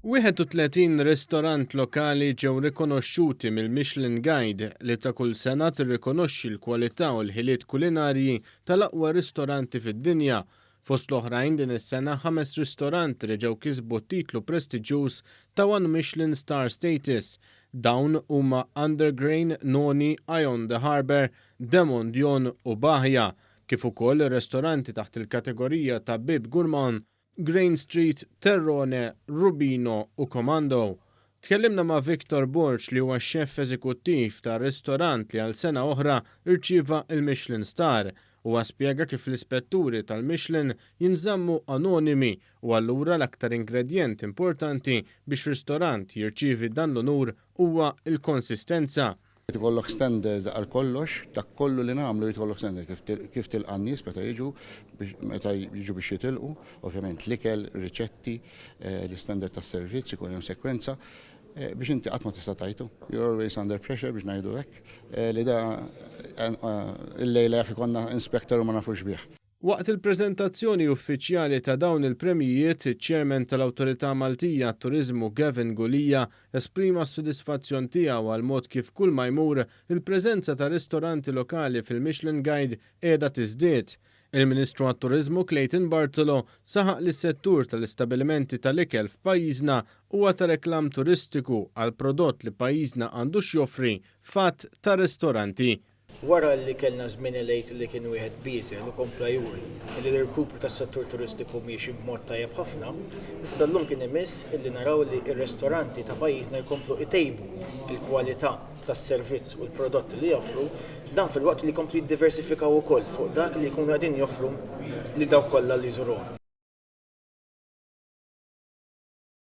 31 ristorant lokali ġew rikonoxxuti mill-Michelin Guide li ta' kull sena tirrikonoxxi l-kwalità u l-ħiliet kulinarji tal-aqwa ristoranti fid-dinja. Fost l-oħrajn din is-sena ħames ristoranti li ġew kisbu t-titlu prestiġjuż ta' One Michelin Star Status. Dawn huma Undergrain, Noni, Eye on the Harbour, Demon Dion u Bahia kif ukoll ir-restoranti taħt il-kategorija ta' Bib Gourmand, Grain Street, Terrone, Rubino u Comando. Tkellimna ma' Victor Borg li huwa x-xeff eżekuttiv ta' ristorant li għal sena oħra rċieva l-Michelin Star. Huwa spjega kif l-ispetturi tal-Michelin jinżammu anonimi u allura l-aktar ingredjent importanti biex ristorant jirċievi dan l-unur huwa l-konsistenza. Irid ikollok standard għal kollox, dak kollu li nagħmlu jrid ikollok standard kif kif tilqa' n-nies meta jiġu biex meta jiġu biex jitilqu, ovvjament l-ikel, riċetti, eh, l-istandard tas-servizz, ikun hemm sekwenza eh, biex inti qatt ma tista' tajtu. You're always under pressure biex ngħidu hekk, eh, li da eh, eh, illejla jaf ikollna inspector u ma nafux bih. Waqt il-preżentazzjoni uffiċjali ta' dawn il-premjijiet, iċ-Chairman tal-Awtorità Maltija għat-Turiżmu Gavin Gulia esprima s-sodisfazzjon tiegħu għall-mod kif kull ma jmur, il-preżenza ta' ristoranti lokali fil-Michelin Guide qiegħda tiżdied. Il-Ministru għat-Turiżmu Clayton Bartolo saħaq li s-settur tal-istabilimenti tal-ikel f'pajjiżna huwa ta' reklam turistiku għall-prodott li pajjiżna għandu x'joffri f'għadd ta' ristoranti. Wara li kellna żmien il-Għid li kien wieħed bieżel u kompla juri li l-irkupru tas-settur turistiku miexi b'mod tajjeb ħafna, issa llum kien imiss illi naraw li r-ristoranti ta' pajjiżna jkomplu itejbu l-kwalità tas-servizz u l-prodotti li joffru, dan filwaqt li jkomplu jiddiversifikaw ukoll fuq dak li jkunu qegħdin joffru lil dawk kollha li jżuruhom.